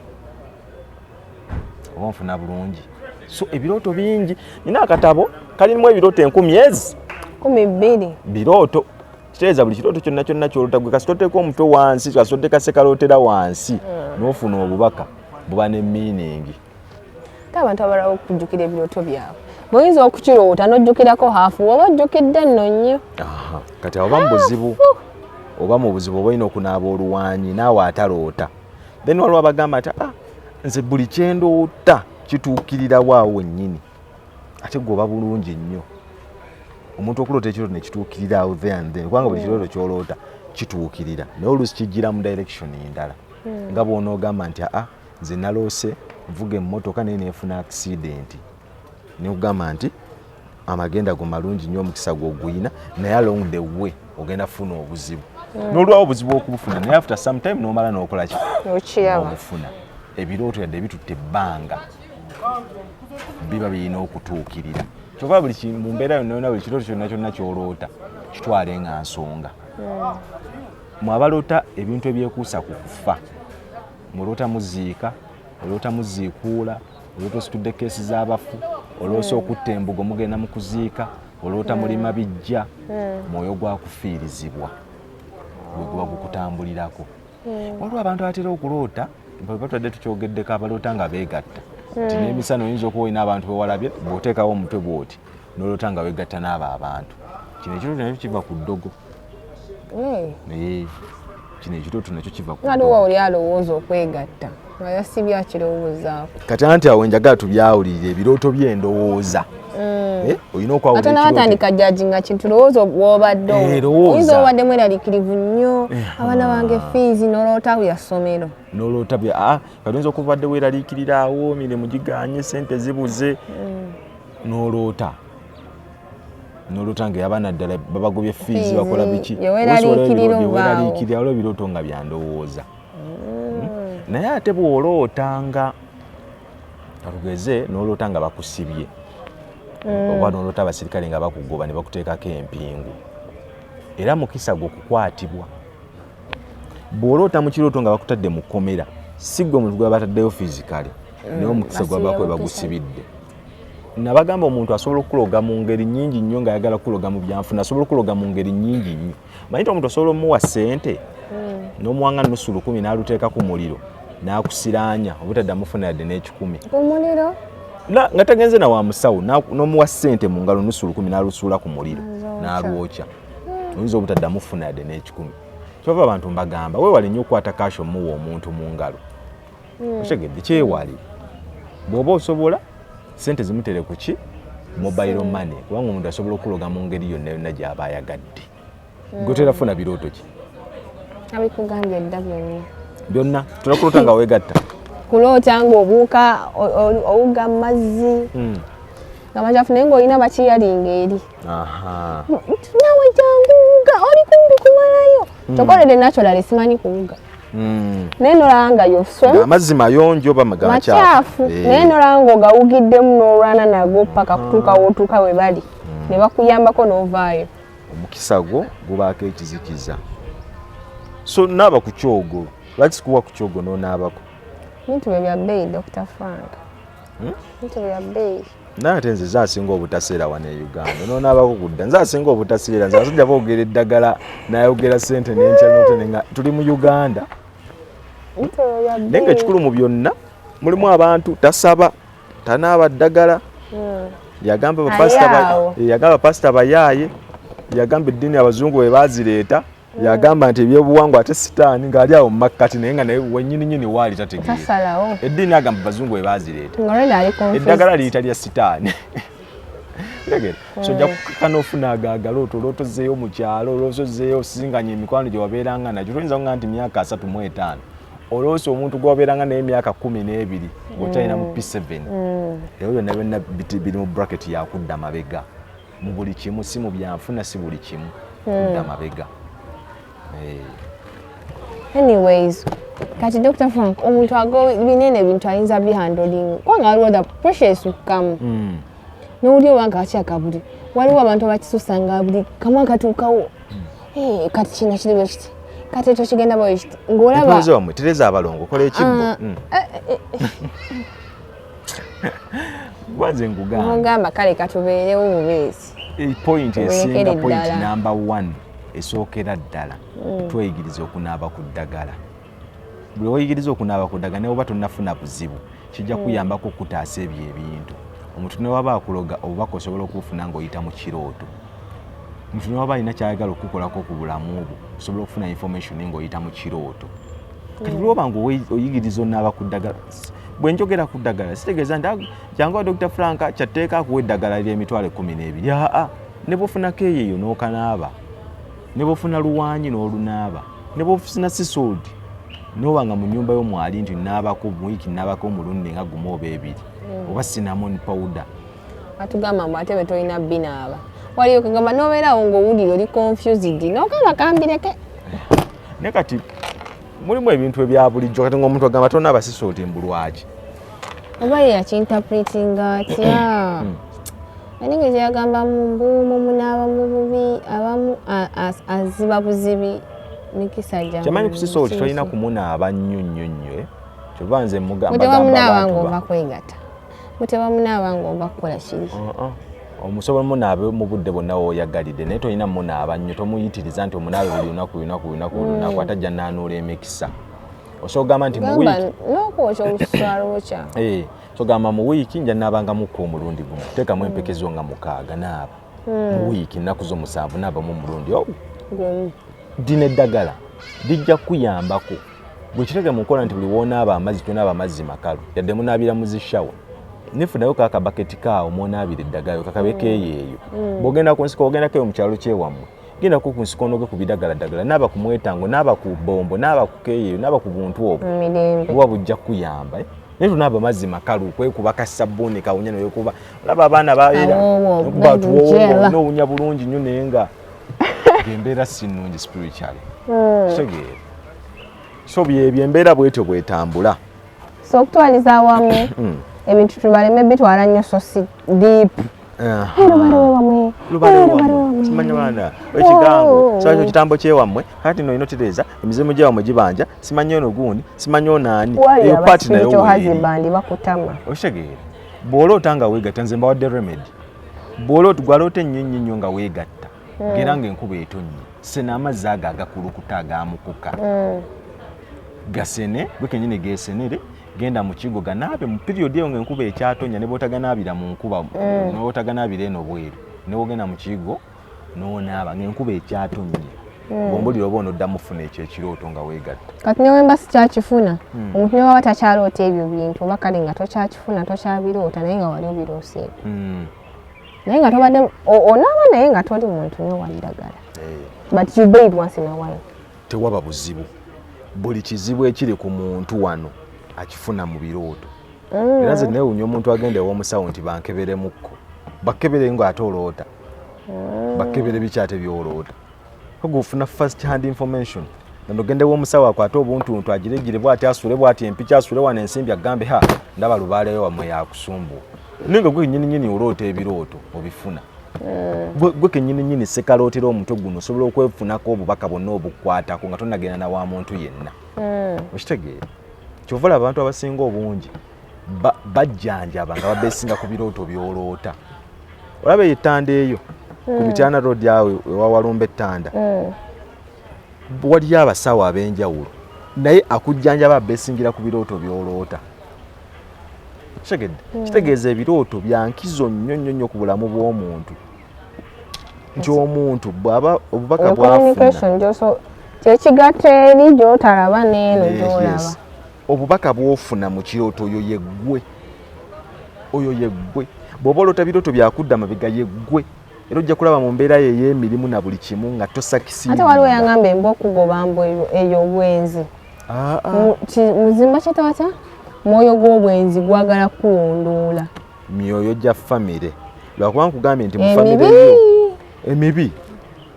oba nfuna bulungi so ebirooto bingi nina akatabo kalimu ebirooto enkumi ezi kumi bbiri birooto kiteeza buli kirooto kyonna kyonna kyolota gwe kasita oteeka omutwe wansi kasita oteeka sekalootera wansi hmm. n'ofuna obubaka buba ne miiningi ate abantu abalawo okujjukira ebirooto byabwe buyinza okukiroota n'ojjukirako haafu oba ojjukidde nno nnyo kati oba mu buzibu oba mu buzibu oba olina okunaaba oluwanyi naawe ataloota then waliwo abagamba nti ah, nze buli kyendoota kituukirirawo awo wennyini ate gwoba bulungi nnyo omuntu okuloota ekirooto nekituukirira awo there and then kubanga buli hmm. kirooto kyoloota kituukirira naye oluusi kijjira mu direction endala hmm. nga bwonoogamba nti aa nze naloose nvuga emmotoka naye neefuna akisidenti nekugamba nti amagenda go malungi nnyo omukisa gwoguyina naye along the way ogenda kufuna obuzibu hmm. nolwawo obuzibu okubufuna naye after sometime nomala nokolaki obufuna ebirooto yadde bitutte ebbanga biba birina okutuukirira kyova buli mu mbeera yonayona buli kirooto kyonna kyonna kyoloota kitwale nga nsonga hmm. mwabaloota ebintu ebyekuusa ku kufa muloota muziika oloota muziikuula oloota ositudde keesi z'abafu oloosa hmm. okutta embugo mugenda mu kuziika oloota mulima hmm. bijja mwoyo gwa kufiirizibwa gwe guba gukutambulirako hmm. waliwo abantu abatera okuloota batwadde tukyogeddeko abaloota nga beegatta nti hmm. n'emisana oyinza okuba olina abantu bewalabye bw'oteekawo omutwe bw'oti noloota nga wegatta n'abo abantu kino ekirooto nakyo kiva ku ddogo hmm. kino ekirooto nakyo kiva ku oli alowooza okwegatta oyo si byakirowoozaako kati anti awo njagala tubyawulirire ebirooto by'endowooza mm. eh, olina okwawulaate nabatandika jaji nga kintu lowooza wobadde eh, oyinza obadde mweralikirivu nnyo eh, abaana ah. bange fiizi noloota bya ssomero noloota bya ah, kati oyinza okubadde weeralikirira awo mirimu giganye sente zibuze mm. noloota nolota nga yabana ddala babagobye fiizi bakola biki weraliikirira olwo ebirooto nga byandowooza hmm? naye ate bw'oloota nga alugeze n'oloota nga bakusibye hmm. oba n'oloota abasirikale nga bakugoba ne bakuteekako empingu era mukisa gwe okukwatibwa bw'oloota mu kirooto nga bakutadde mu kkomera si gwe omuntu gwe bataddeyo fizikale hmm. naye omukisa gwe bakuba bagusibidde nabagamba omuntu asobola okuloga mu ngeri nyingi nnyo ng'ayagala kuloga mu byanfuna asobola okuloga mu ngeri nyingi nnyo manyi ti omuntu osobola omuwa sente hmm. nomuwanga nusu lukumi naluteeka ku muliro nakusiranya obutadda mufuna yadde n'ekikumi kumuliro nga tagenze na wa musawo nomuwa sente mu ngalo nusu lukumi nalusuula ku muliro nalwokya hmm. oyinza obutadda mufuna yadde n'ekikumi kyova abantu mbagamba wewale nnyo okukwata kaasho muwa omuntu mu ngalo hmm. okitegedde kyewali bw'oba osobola sente zimutere ku ki mobile hmm. money kubanga omuntu asobola okuloga mu ngeri yonna yonna gy'aba ayagadde hmm. gotera funa birooto ki abikugambye dda byonna byonna tulakulota nga wegatta kuloota ng'obuuka owuga mu mazzi nga macafu naye ng'olina bakiyalinga eri nawe janguuga oli kumbi kumalayo mm. kyokka olede naturally simanyi kuwuga mm. naye nolanga yoamazzi mayonjo oba macyafu eh. naye nolanga ogawugiddemu n'olwana nago paka kutuuka wotuuka we bali mm. ne bakuyambako n'ovaayo omukisa gwo gubaako ekizikiza so naaba ku kyogo lwaki sikuwa ku kyogo n'onaabako bintu bye bya bbeeyi dr frank hmm? bintu bye bya bbeeyi naye ate nze zasinga obutaseera wano e uganda nonaabakugudda nze asinga obutaseera nze abasajja boogera eddagala nayogera sente nenkyanote nga tuli mu uganda naye nga ekikulu mu byonna mulimu abantu tasaba tanaaba ddagala hmm. yagamba bapasita bayaaye yagamba eddiini abazungu bwe bazireeta yagamba nti ebyobuwangwa ate sitaani ng'ali awo mumakkati naye nga naye wenyini nyini waali tategeera eddiini agamba bazungu webaazireeta eddagala liyita lya sitaani tegera so ojja kukaka n'ofuna agaagala oto olwotozeeyo mu kyalo olwosozeeyo osinganya emikwano gye wabeeranga nagyo toyinza kuga nti myaka asatu mu etaano olwosi omuntu gwewabeeranga naye emyaka kumi n'ebiri ngaokyalina mu p7 mm. ebyo byonna byonna biri mu bracket yakudda mabega mu buli kimu si mu byanfuna si buli kimu hmm. kudda mabega eh. anyways kati dr frank omuntu ago binene ebintu ayinza bihandoling kubanga waliwo the pressure esukkamu hmm. nowuli owange akyakabuli waliwo abantu abakisusanga buli kamu akatuukawo hmm. eh, kati kino kiri bwe kiti kati ekyo kigenda bwe kiti ngaolaba tereza abalongo kola ekibbo ah, eh, eh, gwaze nkugamba kale katubeerewo bubeezi eh, point esinga point number one esookera ddala mm. tweyigiriza okunaaba ku ddagala buli oyigiriza okunaaba ku ddagala newoba tonafuna buzibu kijja mm. kuyambako okutaasa ebyo ebintu omuntu newaba akuloga obubaka osobola okufuna ngaoyita mu kirooto omuntu newaba alina kyayagala okukukolako ku bulamu obwo osobola okufuna information ngaoyita mu kirooto kati mm. lwoba nga oyigiriza onaaba ku ddagala bwe njogera ku ddagala sitegeeza nti ah, jangu wa dr frank kyatteeka akuwa eddagala ly'emitwalo ekkumi n'ebiri aa ne bwofuna keeyeeyo n'okanaaba ne bwofuna luwaanyi n'olunaaba ne bwofuna sisoodi noba nga mu nyumba yomwali nti nabako muwiiki nabako omulundi nga gumu oba ebiri mm. oba sinamon powder atugamba mbu ate bwe tolina binaaba waliyo kagamba nobeerawo ngaowulira oli confused nokanga kambireke eh, ne kati mulimu ebintu ebya bulijjo kati ngaomuntu agamba tona abasisi oti mbulwaki oba yeyakinterpretinga atya hmm. anenge kyeyagamba mumbuumu munaaba mububi abamu aziba buzibi mikisa gya kyamanyi kusisa oti tolina kumunaaba nnyo nnyo nnyo eh? kyova nze mugambaamba abantu ba mutaba munaaba ng'ova kukola kiri uh-uh. omusobola munaabe mu budde bwonna woyagalidde naye tolina munaaba nnyo tomuyitiriza nti omunaabe buli lunaku lunaku lunaku lunaku mm. ate ajja naanuula emikisa osobola ogamba nti nokwokya oluswalwokya eh, sogamba mu wiiki nja naabanga mukka omulundi gumu teekamu empekezo nga mukaaga naaba mm. mu wiiki nnaku zo musanvu naabamu omulundi oh. dina eddagala lijja kuyambako buli kitege mu nkola nti buli woonaaba amazzi tonaaba amazzi makalu yadde munaabira mu zishawa nefunayo kaka baketi kaawo mwonaabira eddagayo kakabe keeyeeyo mm. bwogenda ku nsiko ogenda keyo mu kyalo kyewammwe genda ku nsiko onoge ku bidagala ddagala naaba ku mwetango naaba ku bombo naaba ku keeyeeyo naaba ku buntu obwo buba bujja kukuyamba eh? naye tunaaba amazzi makalu kwekuba kasabbuuni kawunya noyokuba olaba abaana baera nowunya bulungi nyo naye nga embeera si nnungi spiritually hmm. kitegeera so byebyo embeera bwetyo bwetambula so okutwaliza awamu hmm. ebintu tubaleme bitwala nnyo so si deep ekigambo kyakyo kitambo kyewammwe kati no inotereza emizimu gyewammwe gibanja simanyi ono gundi simanyi ono ani eyo paati nayo okitegeera bw'ola otanga weegata nze mbawadde remedy bwolot gwalota ennyo nnyo nnyo nga weegatta mm. era nga enkuba etonnye sena amazzi ago agakulukuta agamukuka mm. gasene gwe kenyini gesenere genda mu kigo ganaabe mu period eyo nga enkuba ekyatonya ne bwotaganaabira mu nkuba mm. ne bwotaganaabira eno bweru ne wogenda mu kigo nonaaba ngaenkuba ekyatonye hmm. ombulira oba onodda mufuna ekyo ekirooto nga weegatta kati newemba sikyakifuna hmm. omuntu newaba takyaroota ebyo bintu oba kale nga tokyakifuna tokyabiroota naye nga wali obirooseeko hmm. naye nga tobadde onaaba naye nga toli muntu newalidagala eh. but you baid once in a while tewaba buzibu buli kizibu ekiri ku muntu wano akifuna mu birooto era nze newunya omuntu agenda ew'omusawo nti bankeberemukko bakebere nga ate oloota oh. bakebere bikyate byolooda koga ofuna first hand information nano gendewo omusawo akwate obuntuntu agiregire bwati asule bwati empiki asule wano ensimbi agambe ha ndaba lubaaleyo wamwe yakusumbuwa naye nga gwe nyininyini oloota ebirooto obifuna eh. gwe kenyininyini sekalootera omutwe guno osobola okwefunako obubaka bwonna obukwatako nga tonagenda na wa muntu yenna eh. okitegeera kyova laba abantu abasinga obungi bajjanjaba nga babesinga ku birooto byoloota olaba eyo ettanda eyo ku hmm. mityana road awo ewawalumba ettanda hmm. waliyo abasawo ab'enjawulo naye akujjanjaba abesingira ku birooto byoloota kitegedde hmm. kitegeeza ebirooto byankizo nnyo nnyo nnyo ku bulamu bw'omuntu nti omuntu bwaba obubaka bwafuna kyekigatta eri gyotalaba neeno gyolaba obubaka bwofuna mu kirooto oyo yeggwe oyo yeggwe bw'oba olota birooto byakudda mabega yeggwe era ojja kulaba mu mbeera yo ey'emirimu na buli kimu nga tosakisiate waliwo yangamba emba okugoba mbu eyo obwenzi ah, ah. muzimba kyetawata mwoyo gw'obwenzi gwagala kuwundoola myoyo gya famire lwakuba nkugambye nti mufamire yo emibi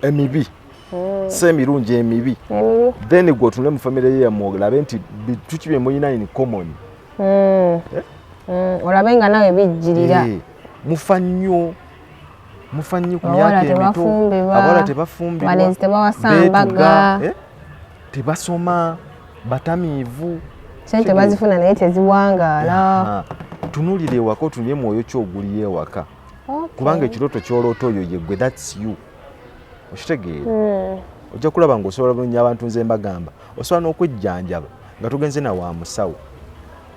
emibi mm. si emirungi emibi mm. then gwe otunule mu famire ye yamu olabe nti bituki bye mulina in common mm. eh? olabe nga nawe bijjirira eh, mufa nnyo mufa nnyo ku myaka emito abawala tebafumbibwabetuga eh? tebasoma batamiivu sente bazifuna naye teziwangaala tunulira ewaka otunye mwoyo ki oguli ewaka kubanga ekirooto kyoloota oyo yegwe thats you okitegeera hmm. ojja kulaba nga osobola bulungi abantu nze mbagamba osobola n'okwejjanjaba nga tugenze na wa musawo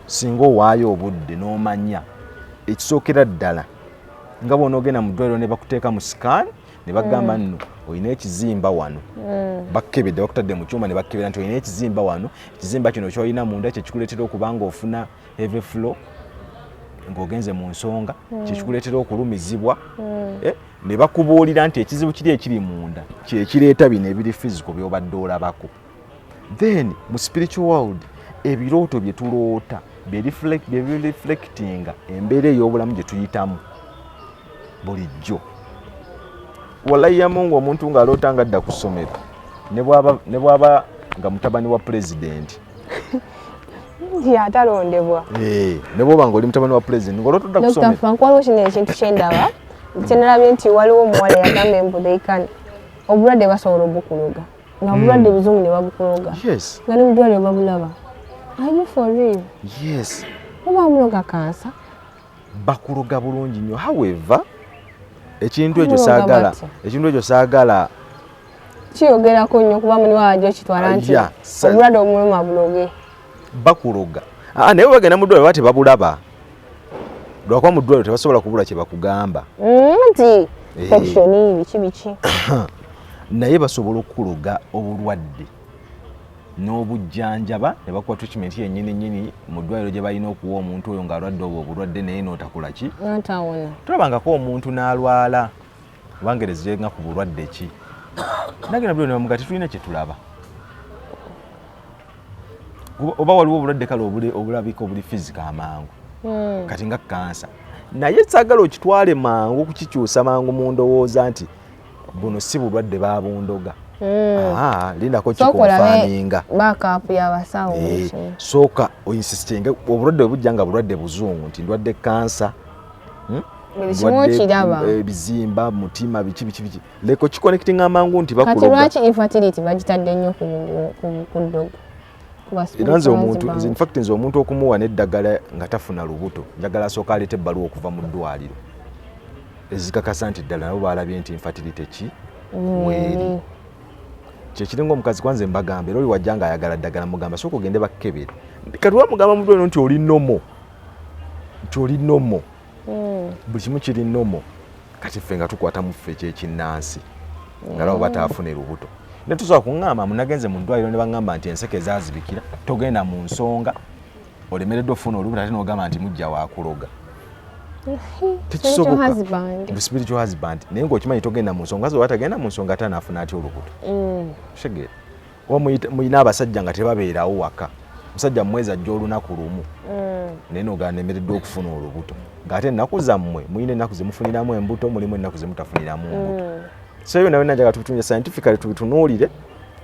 singa owaayo obudde n'omanya ekisookera ddala nga bwona ogenda mu ddwaliro ne bakuteeka mu sikaani ne bagamba hmm. nno olina ekizimba wano hmm. bakkebedde bakutadde mu kyuma ne bakkebera nti olina ekizimba wano ekizimba kino kyolina munda kyekikuleetera okuba nga ofuna heavy flow ng'ogenze mu nsonga mm. kyekikuleetera okulumizibwa mm. eh, ne bakubuulira nti ekizibu kiri ekiri munda kyekireeta bino ebiri fiziko byobadde olabako then mu spiritual world ebirooto bye tuloota byereflectinga embeera ey'obulamu gye tuyitamu bulijjo walayiyamungu omuntu ng'aloota nga adda ku ssomero ne bwaba nga mutabani wa pulezidenti yatalondebwa eh, ne bwoba nga oli mutabani wa pulezidenti ngolotodda kusomerafankwaliwo kino ekintu kyendaba kyenalabye nti waliwo omuwala yagamba embudheikani obulwadde basobola obukuloga nga hmm. bulwadde buzungu ne babukuloga nga ne mudwaliro babulaba aye for real yes oba amuloga kansa bakuloga bulungi nnyo however ekintu ekyo saagala ekintu ekyo saagala kiyogerako nnyo kuba muni wajo kitwala ah, nti obulwadde omuluma buloge bakuloga ah, naye bagenda mudwaliro baba tebabulaba lwakuba mu ddwaliro tebasobola kubula kye bakugamba mm, nti pekishoni eh. biki biki naye basobola okukuloga obulwadde n'obujjanjaba ne bakuwa treatment yennyini nyini mu ddwaliro gye balina okuwa omuntu oyo ng'alwadde obwo obulwadde naye n'otakola ki tulabangako omuntu n'alwala wangereza yenga ku bulwadde ki nange nabuli nebamuga tetulina kyetulaba oba waliwo obulwadde kale obulabika obuli fizika amangu hmm. kati nga kansa naye sagala okitwale mangu okukikyusa mangu mu ndowooza nti buno si bulwadde babundoga hmm. lindako kikonfaninga eh, sooka oinsistinge obulwadde bwebujja nga bulwadde buzungu nti ndwadde kansa hmm? ebizimba eh, mutima biki biki biki leko kikonectinga amangu nti bakulogga kati lwaki infertility bagitadde nnyo ku ddogo era nze omuntu nze infact nze omuntu okumuwa n'eddagala nga tafuna lubuto njagala asooka aleeta ebbaluwa okuva mu ddwaliro ezikakasa nti ddala nabo baalabye nti infatilite ki mm. weeri kyekiringa omukazi kwanze mbagamba era oli wajja nga ayagala ddagala mugamba sooka ogende bakkebere kati wamugamba mutweno nti oli nomo nti oli nomo hmm. buli kimu kiri nomo kati ffe nga tukwata mu ffe ekyekinnansi nga labo bataafuna erubuto ne tusobola kuŋŋamba munagenze mu ddwaliro ne baŋŋamba nti enseke zaazibikira togenda mu nsonga olemereddwa okufuna olubuto ate n'ogamba nti mujja wakuloga spiritual husband naye ngaokimanyi togenda mu nsonga zoba tagenda mu nsonga ate anaafuna atya olubuto mm. kitegeera oba mulina abasajja nga tebabeerawo waka musajja mumwezi ajja olunaku lumu mm. naye noganemereddwa okufuna olubuto ngaate ennaku zammwe mulina ennaku zemufuniramu embuto mulimu ennaku zemutafuniramu mm. mbuto so ebyo nawe najaga tubitunule scientifically tubitunuulire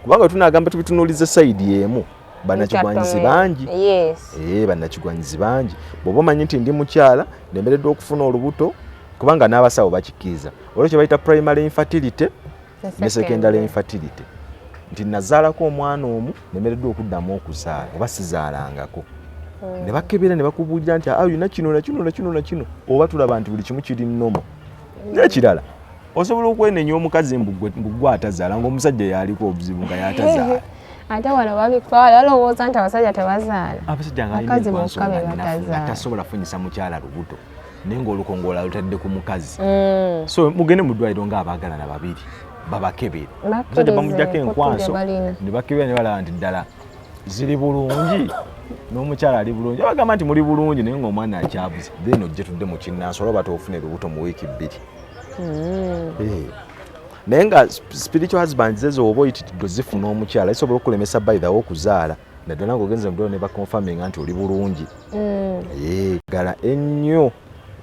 kubanga tunagamba tubitunuulize sayidi emu banakigwanyizi bangi ee eh, banakigwanyizi bangi bwoba omanyi nti ndi mukyala nemereddwa okufuna olubuto kubanga n'abasawo bakikkiriza olwekyo bayita primary infertility ne secondary infertility nti nazaalako omwana omu nemereddwa okuddamu okuzaala oba sizaalangako hmm. ne bakebera ne bakubuulira nti ayina ah, kino nakino nakino nakino oba tulaba nti buli kimu kiri nomo hmm. nekirala osobola okwenenya omukazi mbugwe atazaala ngaomusajja yaliko obuzibu nga yatazaala ate wano babitwala balowooza nti abasajja tebazaala abasajja nga alina enkwaso nga tasobola funyisa mukyala lubuto naye ngaolukongola lutadde ku mukazi mm. so mugende mu ddwaliro ngaabagalana babiri babakebere musajja bamujjako enkwanso ne bakebera ne balaba nti ddala ziri bulungi n'omukyala ali bulungi abagamba nti muli bulungi naye ngaomwana akyabuze then ojje tudde mu kinnansi olaba toofuna ebibuto mu wiiki bbiri mm. eh. naye nga spiritual husband zezo oba oyitidde zifuna omukyala zisobola okulemesa by the way okuzaala naddala ngaogenze mudolo ne baconfirminga nti oli bulungi mm. eh, gala ennyo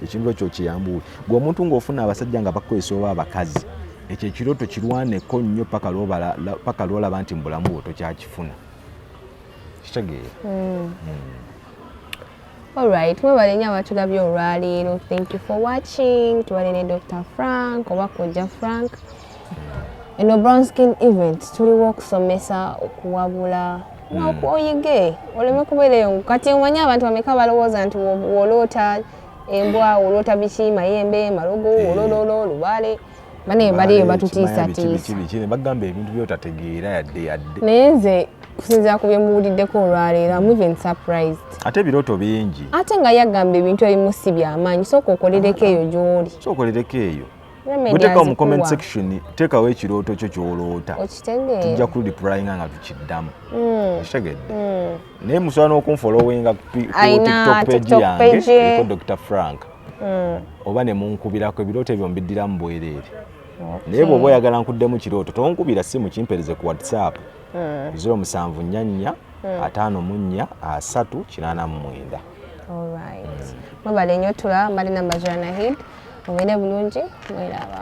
ekintu ekyo kiyambuwe gwe omuntu ng'ofuna abasajja nga bakukozesa oba abakazi ekyo ekirooto kirwaneko nnyo paka lwolaba nti mu bulamu bwo tokyakifuna kitegeera mm. mm. alright mwebale nyo abatulabye olwaleero thank you for watching tubalene dr frank oba kojja frank eno brown skin event tuliwo okusomesa okuwabula hmm. oyige oleme kubeera eyo kati omanyi abantu bameka balowooza nti woloota embwa woloota biki mayembe malogo eh. wolololo olubale banaye baliyo batutiisatiisabagamba ebintu byotategeera yadde yadde naye nze kusinzira ku byemuwuliddeko olwaleero am even surprised ate ebirooto bingi ate nga yagamba ebintu ebimu si byamaanyi sooka okolereko eyo gy'oli sooka okolereko eyo Weteka mu comment section tekawo ekirooto kyo kyoloota tujja ku replyinga nga tukiddamu hmm. okitegedde hmm. naye musobola n'okunfolowinga ku tiktok page yange eko dr frank hmm. oba ne munkubirako ebirooto ebyo mbiddiramu bwereere naye bw'oba oyagala nkuddemu kirooto tonkubira simu kimpereze ku whatsapp ziro musanvu nnya nnya ataano mu nnya asatu kinaana mu mwenda Alright. Mwebale nnyo tula Marina Majana Hid. Mubere bulungi mwelaba.